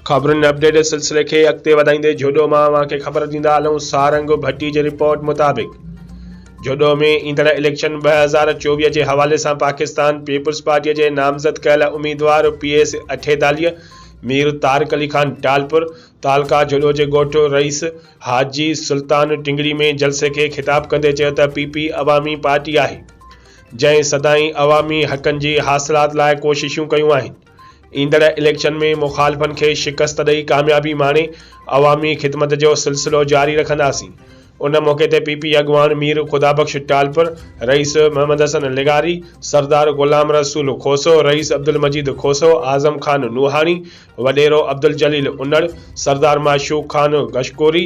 خبرن update سلسلي کي اڳتي وڌائيندي جهوڏو مان اوهان کي خبر ڏيندا هلون سارنگ ڀٽي جي رپورٽ مطابق جهوڏو ۾ ايندڙ اليڪشن ٻه هزار چوويهه جي حوالي سان پاڪستان پيپلز پارٽي جي نامزد ڪيل اميدوار پي ايس اٺيداليء مير طارق علي خان ٽالپر تعلقه جهوڏو جي ڳوٺ رئيس حاجي سلطان ٽنگڙي ۾ جلسي کي خطاب ڪندي چيو ته پي پي عوامي پارٽي آهي جنهن سدائين عوامي حقن جي حاصلات لاء ڪوششون ڪيون آهن. ايندڙ اليڪشن ۾ مخالفن کي شڪست ڏئي ڪاميابي ماڻي عوامي خدمت جو سلسلو جاري رکنداسين. ان موقعي تي پ پ اڳواڻ مير خدابخش ٽالپر، رئيس محمد حسن لغاري، سردار غلام رسول کوسو، رئيس عبدالمجيد کوسو، اعظم خان نوحاڻي، وڏيرو عبدالجليل انڙ، سردار معشوق خان گشڪوري،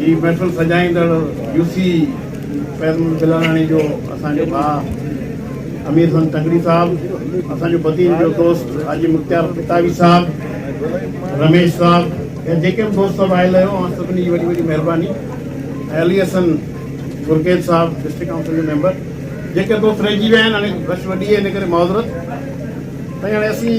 هي محفل سجائيندڙ يوسي فيض محمد بلاراڻي جو اسان جو ڀاء امير حسن تنگڙي صاحب اسان جو بدين جو دوست حاجي مختيار پتاوي صاحب رميش صاحب ۽ جيڪي به دوست سڀ آيل آهيو اوهان سڀني جي وڏي وڏي مهرباني ۽ علي حسن گرگيج صاحب ڊسٽرڪٽ ڪائونسل جو ميمبر جيڪي دوست رهجي ويا آهن هاڻي رش وڏي آهي ان ڪري معذرت سائين هاڻي اسين